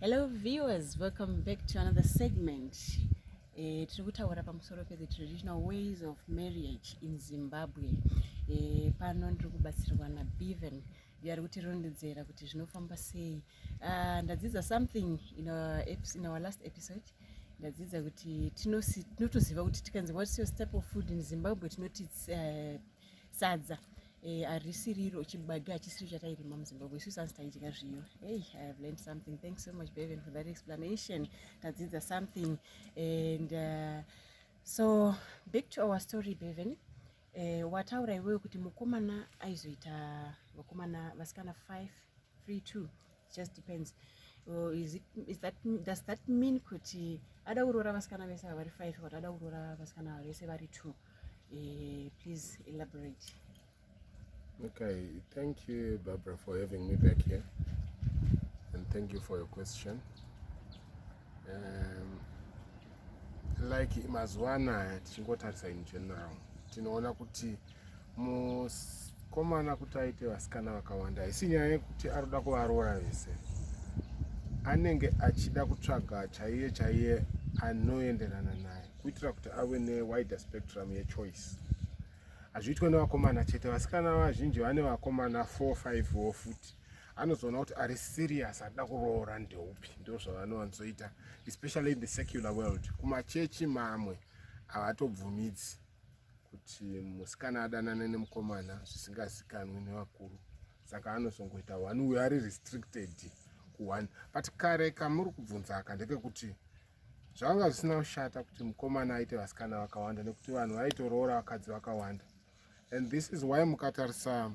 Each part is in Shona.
Hello viewers, welcome back to another segment. Eh, tiri kutaura pamusoro pe the traditional ways of marriage in Zimbabwe. Eh, pano ndiri kubatsirwa na Bevan iyo ari kutirondedzera kuti zvinofamba sei. Uh, ndadzidza something in our, in our last episode ndadzidza kuti tinotoziva kuti tikanzi what's your staple food in Zimbabwe tinoti uh, sadza eh, arisiriro eh, chibage hachisiri chatairima muzimbabwe isusu asi taidya zviyo hey i have learned something thanks so much beven for that explanation tadzidza something and uh, so back to our story beven eh, wataura iwewe kuti mukomana aizoita vakomana vasikana 5 3 2 just depends or is it, is that, does that mean kuti ada kuroora vasikana vese vari five or ada kuroora vasikana vese vari two eh, please elaborate okay thank you barbara for having me back here and thank you for your question like mazuva anaya tichingotarisa in general tinoona kuti mukomana kuti aite vasikana vakawanda haisi nyaya yekuti arikuda kuvaroora vese anenge achida kutsvaga chaiye chaiye anoenderana naye kuitira kuti ave newider spectrum yechoice hazviitwe nevakomana chete vasikana vazhinji vane vakomana 45 wo futi anozoona kuti ari serious ada kuroora ndeupi ndo zvavanowanzoita especially in the secular world kumachechi mamwe havatobvumidzi kuti musikana adanane nemukomana zvisingazikanwi nevakuru saka anozongoita one uyo ari restricted kuone but kare kamuri kubvunzaka ndekekuti zvanga zvisina kushata kuti mukomana aite vasikana vakawanda nekuti vanhu vaitoroora vakadzi vakawanda and this is why mukatarisa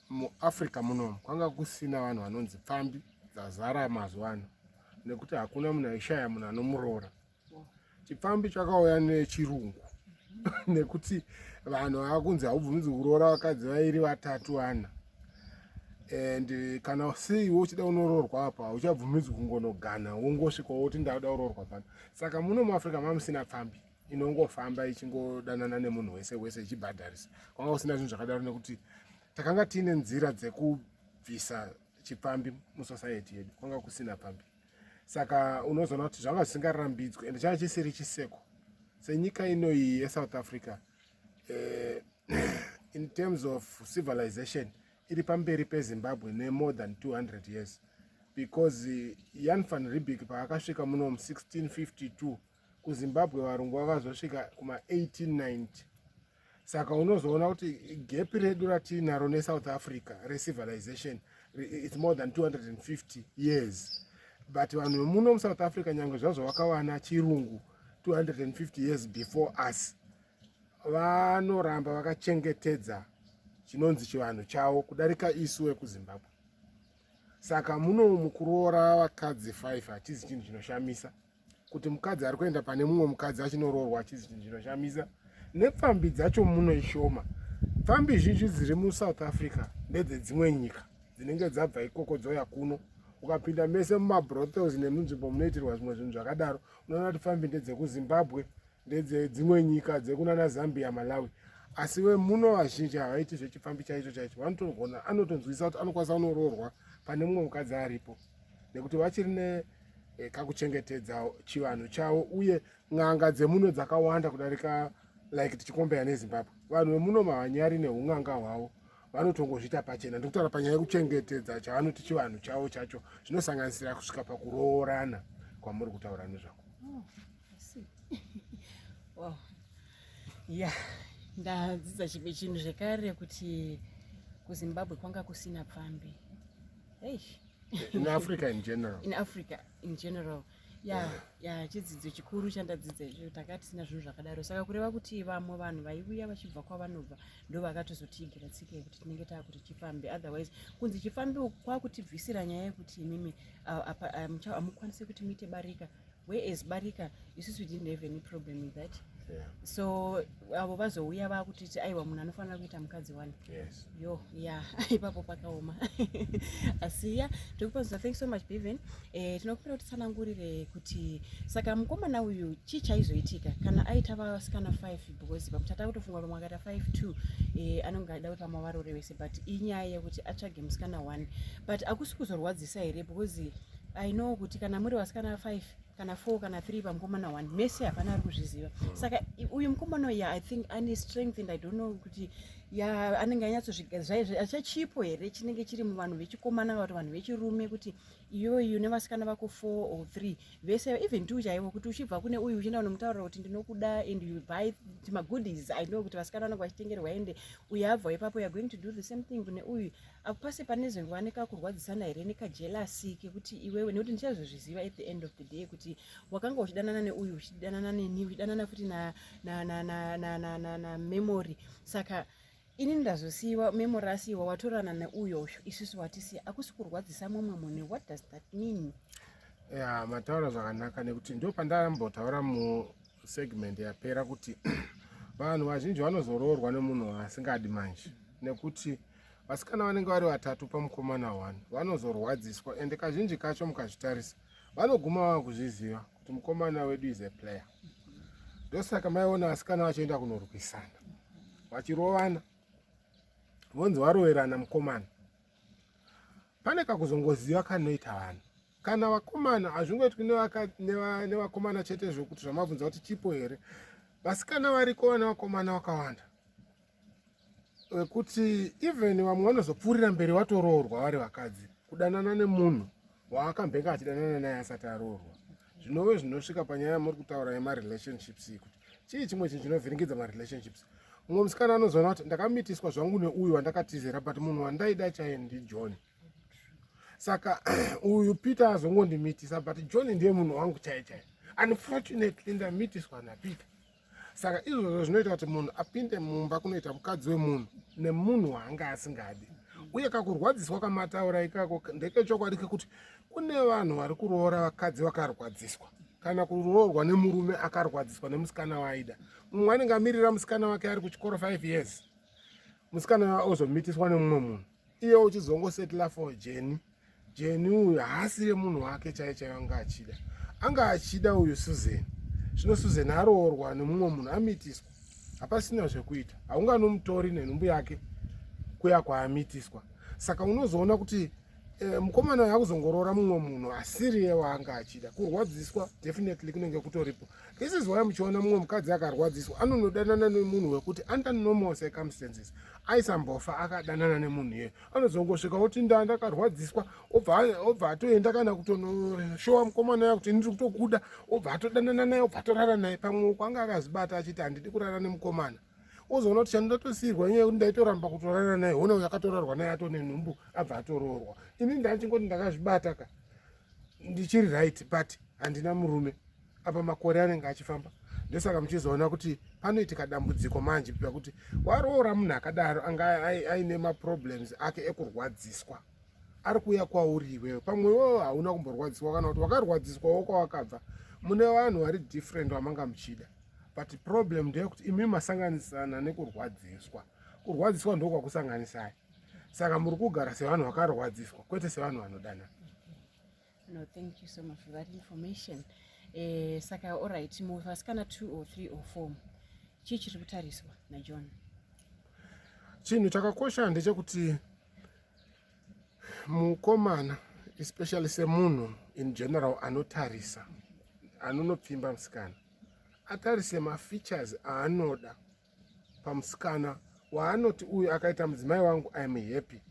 muafrica munomu kwanga kusina vanhu vanonzi pfambi dzazara mazuva ano nekuti hakuna munhu aishaya munhu anomuroora chipfambi chakauya nechirungu nekuti vanhu vakunzi haubvumidzi kuroora vakadzi vairi vatatu vana and kana sei wochida unoroorwa apa hauchabvumidzi kungonogana wongosvika woti ndauda kuroorwa pano saka muno muafrica mamusina pfambi inongofamba ichingodanana nemunhu wese wese ichibhadharisa kwanga kusina zvinhu zvakadaro nekuti takanga tiine nzira dzekubvisa chipfambi musociety yedu kwanga kusina pfambi saka unozoona kuti zvanga zvisingarambidzwe ende changa chisiri chiseko senyika inoyi yesouth africa eh, in terms of civilization iri pamberi pezimbabwe nemore than 200 years because eh, yan van ribik paakasvika muno 1652 kuzimbabwe varungu vakazosvika kuma 1890 saka unozoona kuti gepi redu ratiinaro nesouth africa recivilization its more than 250 years but vanhu vemuno musouth africa nyange zvazvo vakawana chirungu 250 years before us vanoramba vakachengetedza chinonzi chivanhu chavo kudarika isu vekuzimbabwe saka muno mukuroora vakadzi 5 hatizi chinhu chinoshamisa kuti mukadzi ari kuenda pane mumwe mukadzi achinoroorwa achizi chinhu chinoshamisa nepfambi dzacho muno ishoma pfambi zhinji dziri musouth africa ndedzedzimwe nyika dzinenge dzabva ikoko dzouya kuno ukapinda mese mumabrothels nemunzvimbo munoitirwa zvimwe zvinhu zvakadaro unoona kuti pfambi ndedzekuzimbabwe ndedze dzimwe nyika dzekunana zambia malawi asi vemuno vazhinji havaiti zvechipfambi chaicho chaicho vanotogona anotonzwisa kuti anokwanisa kunoroorwa pane mumwe mukadzi aripo nekuti vachiri ne eh, kakuchengetedza chivanhu chavo uye n'anga dzemuno dzakawanda kudarika like tichikombeya nezimbabwe vanhu vemuno mavanyari neun'anga hwavo vanotongozviita pachena ndikutaura panyaya yekuchengetedza chavanoti chivanhu chavo chacho zvinosanganisira kusvika pakuroorana kwamuri kutaura nezvako wow. yeah ndadzidza chimwe chinhu zvekare kuti kuzimbabwe kwanga kusina pfambi in africa in general in africa in general ya ya chidzidzo chikuru chandadzidza icho tanga tisina zvinhu zvakadaro saka kureva kuti vamwe vanhu vaiuya vachibva kwavanobva ndo vakatozotiigira tsika yekuti tinenge taakuti chifambi otherwise kunzi chifambi kwakutibvisira nyaya yekuti imimi amukwanise kuti muite barika whereas barika isusu we didn't have any problem with that yeah. so avo vazouya vakutiti aiwa munhu anofanira kuita mukadzi wani yes. yo ya ipapo pakaoma asi ya tikupazuza thank so much beven e, eh, tinokumbira kuti tsanangurire kuti saka mukomana uyu chii chaizoitika kana aita vasikana five because pakuti atakutofunga vamwe akaita five two e, anonge aida kuti vamwe varore vese but inyaya yekuti atsvage musikana one but akusi kuzorwadzisa here because I know kuti kana muri vasikana 5 kana 4 kana 3 pamukomana 1 mese hapana ari kuzviziva mm. saka uyu mukomana uya i think ane strength and i don't know kuti ya anenge anyatsozvigazivaizveachachipo here chinenge chiri muvanhu vechikomana kana kuti vanhu vechirume kuti iyoyu nevasikana vako 4 or 3 vese even two chaivo kuti uchibva kune uyu uchienda unomutaurira kuti ndinokuda and you buy magoodies i know kuti vasikana vanenge vachitengerwa ende uyu abva ipapo youare going to do the same thing kune uyu akupase pane zvingova nekakurwadzisana here nekajelasi kekuti iwewe nekuti ndichazozviziva at the end of the day kuti wakanga uchidanana neuyu uchidanana neni uchidanana futi namemory saka ini ndazosiiwa memory asiiwa watorana neuyo uyu isusu watisiya akusi kurwadzisa mumwe munhu what does that mean ya mataura zvakanaka nekuti ndo pandambotaura musegment yapera kuti vanhu vazhinji vanozoroorwa nemunhu waasingadi manje nekuti Vasikana vanenge vari vatatu pamukomana one vanozorwadziswa ende kazhinji kacho mukazvitarisa vanoguma vava kuzviziva kuti mukomana wedu is a player. Ndosaka maiona vasikana vachienda kunorwisana vachirovana vonzi varoverana mukomana. Pane kakuzongoziva kanoita vanhu kana vakomana hazvingoitwi nevakomana chete zvokuti zvamabvunza kuti chipo here vasikana variko vana vakomana vakawanda wekuti even vamwe vanozopfuurira mberi watoroorwa vari vakadzi kudanana nemunhu waakambenge achidanana naye asati aroorwa zvinove zvinosvika panyaya yamuri kutaura yemarelationships iyi kuti chii chimwe chinhu chinovhiringidza marelationships mumwe musikana anozoona kuti ndakamitiswa zvangu neuyu wandakatizera but munhu wandaida chaye ndijohn saka uyu peter azongondimitisa but john ndiye munhu wangu chaye chaye unfortunately ndamitiswa napeter saka izvozvo zvinoita kuti munhu apinde mumba kunoita mukadzi wemunhu nemunhu waanga asingadi uye kakurwadziswa kamataura ikako ndekechokwadi kekuti kune vanhu vari kuroora vakadzi vakarwadziswa kana kuroorwa nemurume akarwadziswa nemusikana waaida mumwe anenge amirira musikana wake ari kuchikoro 5 years musikana ozomitiswa nemumwe munhu iye uchizongosetla for jeni jeni uyu haasire munhu wake chaiye chaiye anga achida anga achida uyu susan zvino susan aroorwa nemumwe munhu amitiswa hapasina zvekuita haunganomutori nenhumbu yake kuya kwaamitiswa saka unozoona kuti eh, mukomana uyu akuzongoroora mumwe munhu asiriye waanga achida kurwadziswa definitely kunenge kutoripo This is why muchiona mumwe mukadzi akarwadziswa anonodanana nemunhu wekuti under normal circumstances aisambofa akadanana nemunhu iye anozongosvika oti nda ndakarwadziswa obva atoenda kana kutonoshowa mukomana ya kuti ndiri kutokuda obva atodanana naye obva atorara naye pamwe uko anga akazvibata achiti handidi kurara nemukomana ozoona kuti chandatosiyirwa nyaya yekuti ndaitoramba kutorara naye hona uyo akatorarwa naye atone nhumbu abva atoroorwa ini ndachingoti ndakazvibata ka ndichiri right but handina murume apa makore anenge achifamba ndosaka muchizoona kuti panoitika dambudziko manje pia kuti waroora munhu akadaro anga aine maproblems ake ekurwadziswa ari kuuya kwauri iwewe pamwe iwewo hauna kumborwadziswa kana kuti wakarwadziswawo kwawakabva mune vanhu vari different vamanga muchida but problem ndeyekuti imi masanganisana nekurwadziswa kurwadziswa ndokwakusanganisai saka muri kugara sevanhu vakarwadziswa kwete sevanhu vanodanana No, thank you so much for that information. Eh, saka all right, muvasikana 2 or 3 or 4 chii chiri kutariswa naJohn? Chinhu chakakosha ndechekuti mukomana especially semunhu in general anotarisa anonopfimba musikana atarise mafeatures aanoda pamusikana waanoti uyu akaita mudzimai wangu iam happy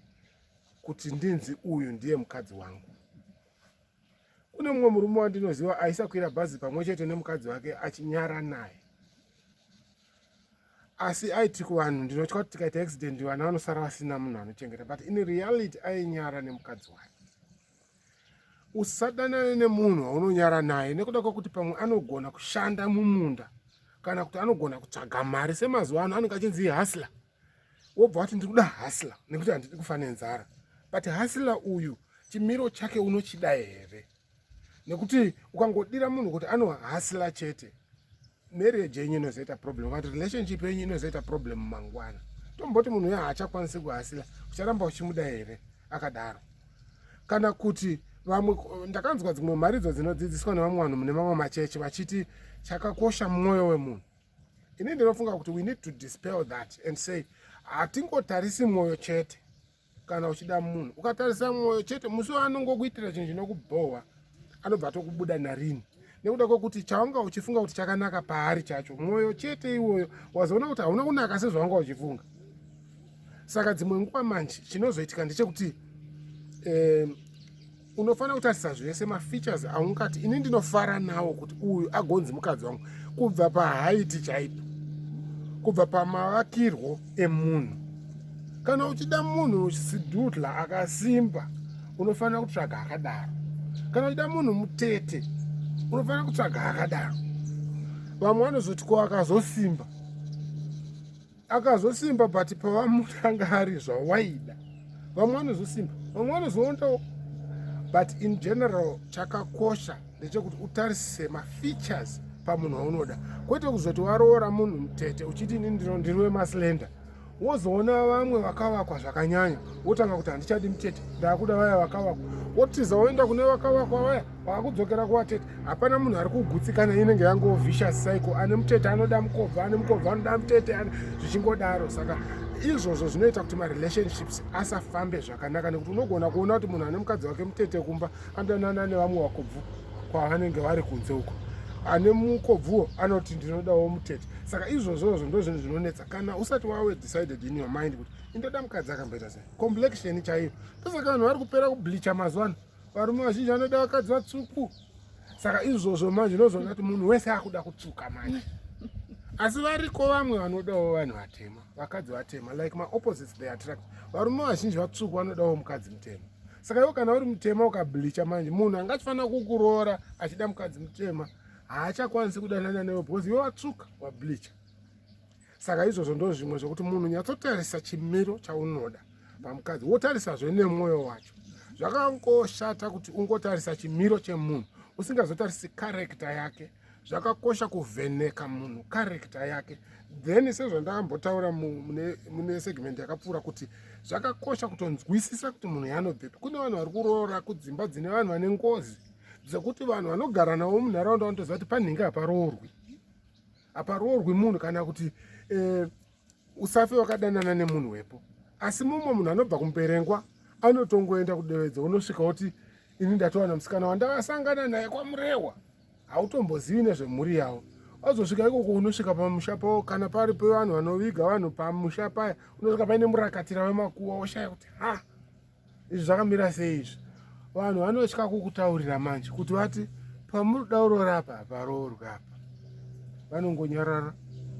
kuti ndinzi uyu ndiye mukadzi wangu kune mumwe murume wandinoziva aisakwira bhazi pamwe chete nemukadzi wake achinyara naye asi aiti kuvanhu ndinotya kuti tikaita accident vana vanosara vasina munhu anochengeta but in reality ainyara nemukadzi wake Usadanane nemunhu waunonyara naye nekuda kwekuti pamwe anogona kushanda mumunda kana kuti anogona kutsvaga mari semazuva ano anenge achinzi hasla wobva wati ndiri kuda hasla nekuti handidi kufa nenzara but hasla uyu chimiro chake unochida here nekuti ukangodira munhu kuti anohasla chete marriage yenyu inozoita problem kana relationship yenyu inozoita problem mangwana tomboti munhu uyo haachakwanisi kuhasila ucharamba uchimuda here akadaro kana kuti vamwe ndakanzwa dzimwe mharidzo dzinodzidziswa nevamwe vanhu mune mamwe machechi vachiti chakakosha mwoyo wemunhu ini ndinofunga kuti we need to dispel that and say hatingotarisi mwoyo chete kana uchida munhu ukatarisa mwoyo chete musi waanongokuitira chinhu chinokubhohwa anobva atokubuda narini nekuda kwekuti chaunga uchifunga kuti chakanaka paari chacho mwoyo chete iwoyo wazoona kuti hauna kunaka sezvaunga uchifunga saka dzimwe nguva manje chinozoitika ndechekuti um, unofanira kutarisa zvese mafeatures aungati ini ndinofara nawo kuti uyu agonzi mukadzi wangu kubva pahaiti chaipo kubva pamavakirwo emunhu kana uchida munhu sidudla akasimba unofanira kutsvaga akadaro kana uchida munhu mutete unofanira kutsvaga akadaro vamwe vanozoti ko akazosimba akazosimba but pavamutanga ari zvawaida vamwe vanozosimba vamwe vanozoondawo but in general chakakosha ndechekuti utarisise mafeatures pamunhu waunoda kwete kuzoti waroora munhu mutete uchiti ini ndino ndiri wemaslender wozoona vamwe vakavakwa zvakanyanya wotanga kuti handichadi mutete ndaakuda vaya vakavakwa wotiza woenda kune vakavakwa vaya kwakudzokera kuvatete hapana munhu ari kugutsikana inenge yango vicious cycle ane mutete anoda mukobva ane mukobva anoda mutete zvichingodaro saka izvozvo zvinoita kuti marelationships asafambe zvakanaka nekuti unogona kuona kuti munhu ane mukadzi wake mutete kumba andanana nevamwe vakobvu kwavanenge vari kunze uko ane mukobvuwo anoti ndinodawo mutete saka izvozvozvo ndo zvinhu zvinonetsa kana usati wawe decided in your mind kuti indoda mukadzi akamboita sei complexion chaiyo ndosaka vanhu vari kupera kubleacha mazuva ano varume vazhinji vanoda vakadzi vatsvuku saka izvozvo manje unozoona kuti munhu wese akuda kutsvuka manje asi variko vamwe vanodawo vanhu vatema vakadzi vatema like maopposites they attract varume vazhinji vatsvuku vanodawo mukadzi mutema saka iwo kana uri mutema ukablicha manje munhu anga achifanira kukuroora achida mukadzi mutema haachakwanisi kudanana newe because iwe watsvuka wablicha saka izvozvo ndo zvimwe zvekuti munhu nyatsotarisa chimiro chaunoda pamukadzi wotarisazve nemwoyo wacho zvakangoshata kuti ungotarisa chimiro chemunhu usingazotarisi karekta yake zvakakosha kuvheneka munhu karekta yake then sezvandakambotaura mune segment yakapfuura kuti zvakakosha kutonzwisisa kuti munhu yanobvepi kune vanhu vari kuroora kudzimba dzine vanhu vane ngozi dzekuti vanhu vanogara navo munharaunda vanotoziva kuti panhingi haparoorwi haparoorwi munhu kana kuti eh, usafe wakadanana nemunhu wepo asi mumwe munhu anobva kumuperengwa anotongoenda kudevedzo unosvika kuti ini ndatowana musikana wandavasangana naye kwamurehwa hautombozivi nezvemhuri yavo wazosvika ikoko unosvika pamusha pavo kana pari pevanhu vanoviga vanhu pamusha paya unosvika paine murakatira vemakuwa woshaya kuti ha izvi zvakamira sei izvi vanhu vanotya kukutaurira manje kuti vati pamuri kuda uroora apa haparoorwa apa vanongonyarara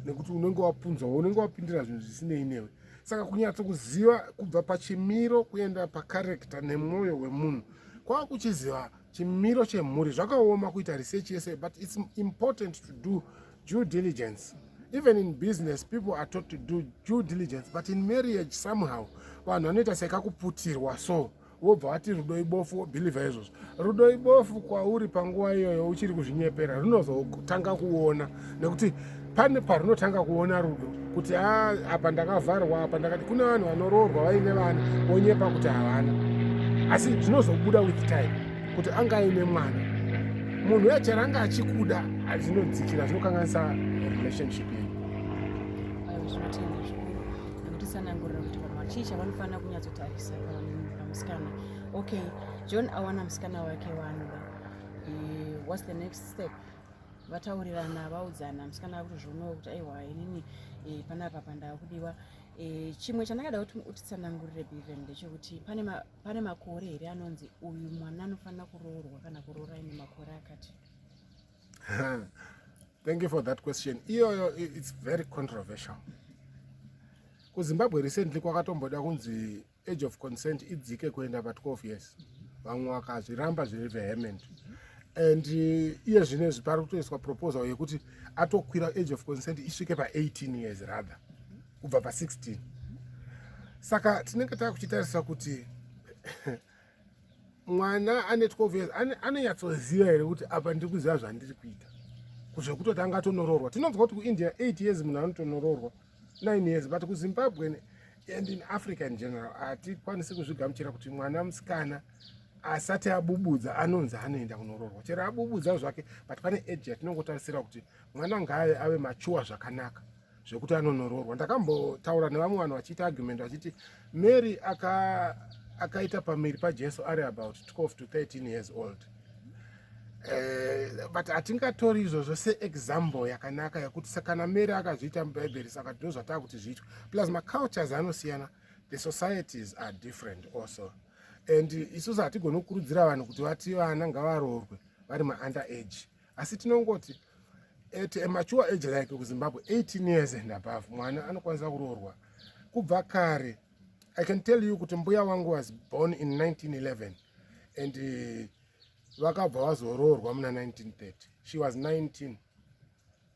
nekuti unenge wapunzwa unenge wapindira zvinhu zvisinei newe saka kunyatso kuziva kubva pachimiro kuenda pakarekta nemwoyo wemunhu kwava kuchiziva chimiro chemhuri zvakaoma kuita research yese but its important to do due diligence even in business people are taught to do due diligence but in marriage somehow vanhu vanoita sekakuputirwa so wobva wati rudo ibofu wobhilivha izvozvo rudo ibofu kwauri panguva iyoyo uchiri kuzvinyepera runozotanga kuona nekuti pane parunotanga kuona rudo kuti ha apa ndakavharwa apa ndakati kune vanhu vanoroorwa vaine vana vonyepa kuti havana asi zvinozobuda with time kuti anga aine mwana munhu uya chero anga achikuda zvinodzikira zvinokanganisa relationship yedu kutsanangurira kuti vanhu vachii chavanofanira kunyatsotarisa pamusikana okay john awana musikana wake waanoda eh, whats the next step vataurirana vaudzana musikana akutozvionawo kuti aiwa inini eh, panapa pandava kudiwa eh, chimwe chandakada kuti utitsanangurire beven ndechekuti pane makore here anonzi uyu mwana anofanira kuroorwa kana kuroora ine makore akati thank you for that question iyoyo its very controversial kuzimbabwe recently kwakatomboda kunzi age of consent idzike kuenda pa 12 years vamwe vakazviramba zviri vehement and uh, iye zvine zvi pari kutoiswa proposal yekuti atokwira age of consent isvike pa 18 years rather kubva pa 16 saka tinenge takuchitarisa kuti mwana ane 12 years anonyatsoziva here kuti apa ndiri kuziva zvandiri kuita kuzvekutoti anga tonoroorwa tinonzwa kuti kuindia 8 years munhu anotonoroorwa 9 years but kuzimbabwe and in africa in general hatikwanisi kuzvigamuchira kuti mwana musikana asati abubudza anonzi anoenda kunoroorwa chero abubudza zvake but pane age yatinongotarisira kuti mwana ngaaye ave machuwa zvakanaka zvekuti anonoroorwa ndakambotaura nevamwe vanhu vachiita argument vachiti mary aka akaita pamiri pajesu ari about 12 to 13 years old uh, but hatingatori izvozvo seexample yakanaka yekuti sakana mary akazviita mubhaibheri saka ndino zvataa kuti zviitwa plus macultures anosiyana the societies are different also and isusu hatigoni kukurudzira vanhu kuti vati vana ngavaroorwe vari maander age asi tinongoti at a mature age like kuzimbabwe 18 years and above mwana anokwanisa kuroorwa kubva kare i can tell you kuti mbuya wangu was born in 1911 and uh, vakabva vazoroorwa muna 1930 she was 19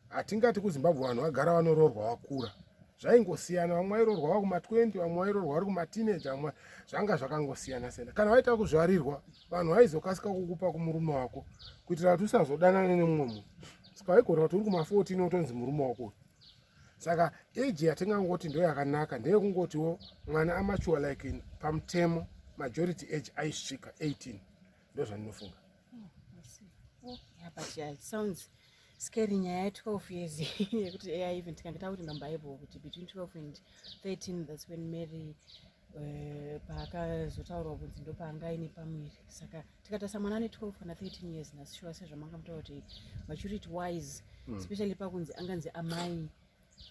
hatingati kuzimbabwe vanhu vagara vanoroorwa vakura zvaingosiyana vamwe vairoorwa vakuma 20 vamwe vairoorwa vari kuma teenage vamwe zvanga zvakangosiyana siyana kana vaita kuzvarirwa vanhu vaizokasika kukupa kumurume wako kuitira kuti usazodanane nemumwe munhu ska waigona kuti uri kuma14 wotonzi murume wako uyu saka age yatingangoti ndo yakanaka ndeyekungotiwo mwana amachuwa like pamutemo majority age aisvika 18 ndo zvandinofunga scary nyaya 12 years yekuti ai even tikangeta kuti nambaibo kuti between 12 and 13 thats when mary Eh, paakazotaurwa kunzi ndopaanga aine pamuviri saka tikatasa mwana ane 12 kana 13 years nasishuwa sezvamanga mutaura kuti vachiri it wise hmm. especially pakunzi anganzi amai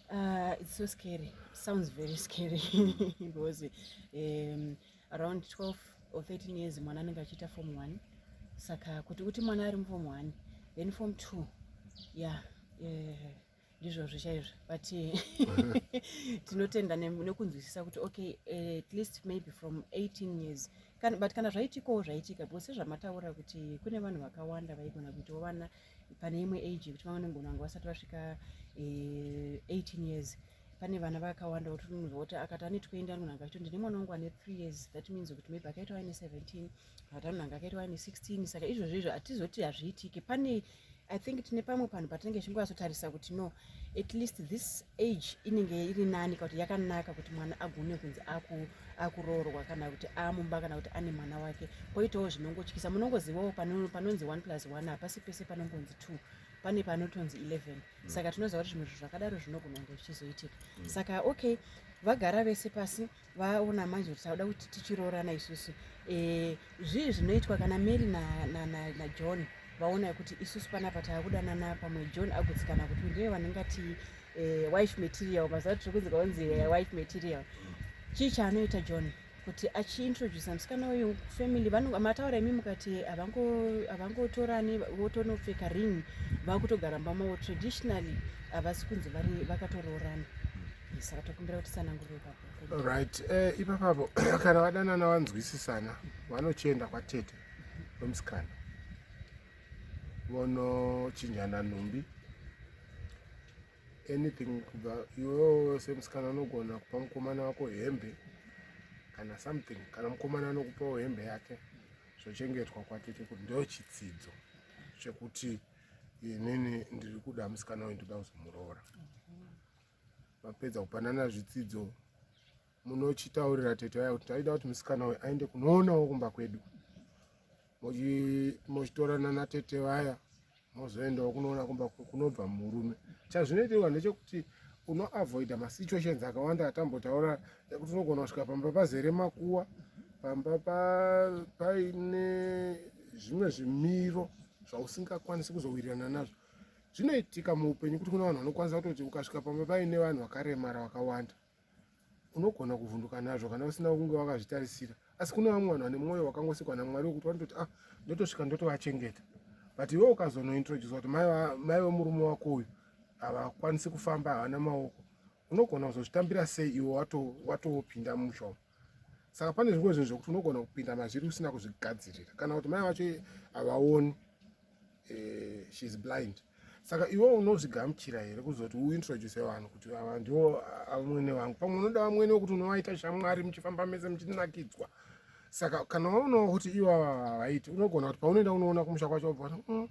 uh, it's so scary sounds very scary because um, around 12 or 13 years mwana anenge achiita form one saka kuti kuti mwana ari mufom one then form two ya yeah, yeah. ndizvozvo chaizvo but tinotenda nekunzwisisa kuti okay eh, at least maybe from 18 years Kan, but kana zvaitikawo zvaitika because sezvamataura kuti kune vanhu vakawanda vaigona kuitawo vana pane imwe age yekuti vamwe nengona vanga vasati vasvika eh, 18 years pane vana vakawanda kuti munhu voti akati anetokuenda anogona akachito ndine mwana wangu ane three years that means kuti maybe akaitawo aine 17 Madam nanga akaitwa ane 16 saka izvozvo izvo hatizoti hazviitike pane i think tine pamwe panhu patinenge zvingwasotarisa kuti no at least this age inenge iri nani ka kuti yakanaka kuti mwana agone kunzi akuroorwa kana kuti amumba kana kuti ane mwana wake koitawo zvinongotyisa munongozivawo panonzi one plus one hapasi pese panongonzi two pane panotonzi 11 mm. saka tinoziva kuti zvimwe zvinhu zvakadaro zvinogona kunge zvichizoitika mm. saka okay vagara vese pasi vaona manje kuti sauda kuti tichiroorana isusu eh, zvii zvinoitwa kana mary najohn na, na, na vaona kuti isusu panapa taakudanana pamwe john agutsikana kuti ndiye vanenge ati eh, wife material mazuva tiri kunzi kaunzi eh, wife material chii chaanoita john kuti achiintroduce musikana uyu family mataura imi mukati havangotorani votonopfeka ring vakutogara mbamawo traditionally havasi kunzi vakatoroorana saka tokumbira kuti sanangurire ipapo right eh, ipapapo kana vadanana vanzwisisana vanochienda kwatete wemusikana vonochinjana nhumbi anything kubva iwewo semusikana unogona kupa mukomana wako hembe kana something kana mukomana anokupawo hembe yake zvochengetwa kwatete kuti ndo chitsidzo chekuti inini ndiri kuda musikana uyu ndoda kuzomuroora mapedza kupanana zvitsidzo munochitaurira tete vaya kuti taida kuti musikana uyu aende kunoonawo kumba kwedu mochitorana natete vaya mozoendawo kunoona kumba kunobva murume chazvinoitirwa ndechekuti unoavoida masituations akawanda atambotaura ekuti unogona kusvika pamba pazere makuwa pamba paine zvimwe zvimiro zvausingakwanisi kuzowirirana nazvo zvinoitika muupenyu kuti kune vanhu vanokwanisa kutoti ukasvika pamba paine vanhu vakaremara vakawanda unogona kuvhunduka nazvo kana usina kunge wakazvitarisira asi kune vamwe vanhu vane mwoyo wakangosikwa namwari wekuti vanototi ah ndotosvika ndotovachengeta but iwe ukazonointroducwa kuti mai vemurume wako uyu havakwanisi kufamba havana maoko unogona kuzozvitambira sei iwe watopinda musho saka pane zvimwe zvinhu zvekuti unogona kupinda mazviri usina kuzvigadzirira kana kuti mai vacho havaoni eh, she is blind saka iwe unozvigamuchira here kuzoti uintroduce vanhu kuti ava ndiwo vamwene vangu pamwe unoda vamwene wekuti unovaita shamwari muchifamba mese muchinakidzwa saka kana waonawo kuti ivo ava havaiti unogona kuti paunoenda unoona kumusha kwacho wobva mm,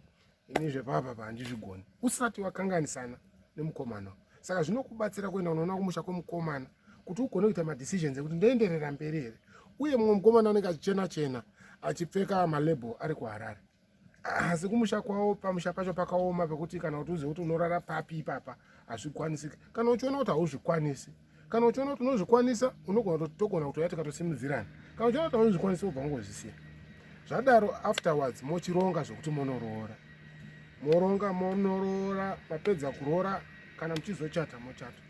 ini zvepapa pa handizvigoni usati wakanganisana nemukomana saka zvinokubatsira kuenda unoona kumusha kwemukomana kuti ugone kuita madecisions ekuti ndoenderera mberi here uye mumwe mukomana anenge achichena chena achipfeka malabel ari kuharare asi kumusha kwavo pamusha pacho pakaoma pekuti kana kuti uzive kuti unorara papi ipapa hazvikwanisiki kana uchiona kuti hauzvikwanisi kana uchiona kuti unozvikwanisa unogona kuti togona kutouya tikatosimudzirana kana uchiona kuti auzvikwanisa ubva ungozvisiya zvadaro afterwards mochironga zvekuti monoroora moronga monoroora mapedza kuroora kana muchizochata mochata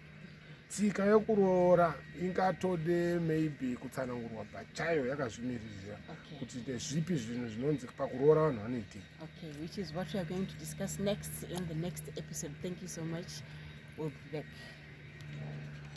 tsika yekuroora ingatode maybe kutsanangurwa pachayo yakazvimiririra kuti ndezvipi zvinhu zvinonzi pakuroora vanhu vanoitei okay which is what we are going to discuss next in the next episode thank you so much we'll be back